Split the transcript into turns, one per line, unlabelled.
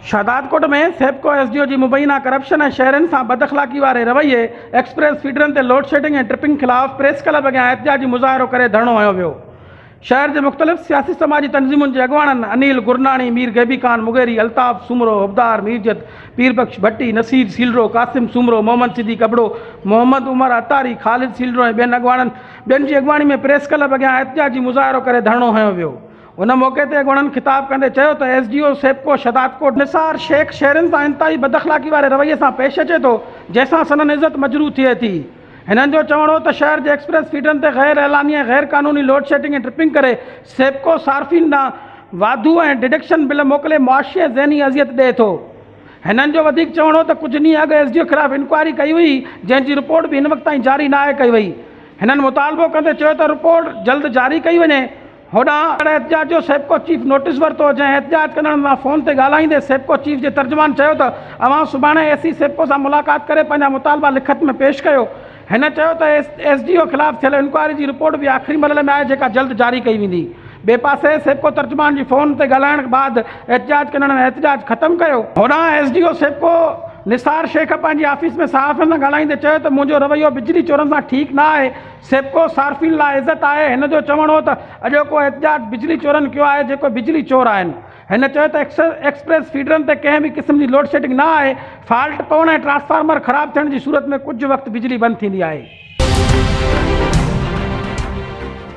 Shahdadkot ۾ Sepco S D O جي مبينا corruption ۽ شهرين سان بداخلاقي واري رويي، ايڪسپريس فيڊرن تي لوڊشيڊنگ ۽ ٽرپنگ خلاف پريس ڪلب اڳيان احتجاجي مظاهرو ڪري ڌرڻو هنيو ويو. شهر جي مختلف سياسي سماجي تنظيمن جي اڳواڻن انيل گرناڻي، مير غيبي خان مغيري، الطاف سومرو، حبدار ميرجت، پير بخش ڀٽي، نصير سيلرو، قاسم سومرو، محمد صديق ابڙو، محمد عمر عطاري، خالد سيلرو ۽ ٻين اڳواڻن ٻين جي اڳواڻي ۾ پريس ڪلب اڳيان احتجاجي مظاهرو ڪري ڌرڻو هنيو ويو. ان موقعي تي اڳوڻن خطاب ڪندي چيو ته S D O Sepco Shahdadkot Nisar Shaikh شھرين سان انتھائي بداخلاقي واري رويي سان پيش اچي ٿو جنھن سان سندن عزت مجروح ٿئي ٿي ھنن جو چوڻ ھو ته شھر جي ايڪسپريس فيڊرن تي غير اعلاني ۽ غير قانوني لوڊشيڊنگ ۽ ٽرپنگ ڪري سيپڪو صارفين ڏانھن واڌو ۽ ڊڊڪشن بل موڪلي معاشي ۽ ذھني اذيت ڏئي ٿو ھنن جو وڌيڪ چوڻ ھو ته ڪجھ ڏينھن اڳ ايس ڊي او خلاف انڪوائري ڪئي ھئي جنھن جي رپورٽ به ھن وقت تائين جاري ناھي ڪئي وئي ھنن مطالبو ڪندي چيو ته رپورٽ جلد جاري ڪئي وڃي. هوڏانهن اهڙي احتجاج جو سيپڪو چيف نوٽيس ورتو، جنهن احتجاج ڪندڙن سان فون تي ڳالهائيندي سيپڪو چيف جي ترجمان چيو ته اوهان سڀاڻي اي سي سيپڪو سان ملاقات ڪري پنهنجا مطالبا لکت ۾ پيش ڪيو. هن چيو ته ايس ڊي او خلاف ٿيل انڪوائري جي رپورٽ به آخري مرحلي ۾ آهي جيڪا جلد جاري ڪئي ويندي. ٻئي پاسي سيپڪو ترجمان جي فون تي ڳالهائڻ بعد احتجاج ڪندڙن احتجاج ختم ڪيو. هوڏانهن S D O Sepco Nisar Shaikh پنهنجي آفيس ۾ صحافين سان ڳالهائيندي چيو ته منهنجو رويو بجلي چورن سان ٺيڪ نه آهي، سيپڪو صارفين لاء عزت آهي، هن جو چوڻ هو ته اڄوڪو احتجاج بجلي چورن ڪيو آهي جيڪو بجلي چور آهن، هن چيو ته ايڪسپريس فيڊرن تي ڪنهن به قسم جي لوڊشيڊنگ نه آهي، فالٽ پوڻ ۽ ٽرانسفارمر خراب ٿيڻ جي صورت ۾ ڪجهه وقت بجلي بند ٿيندي آهي.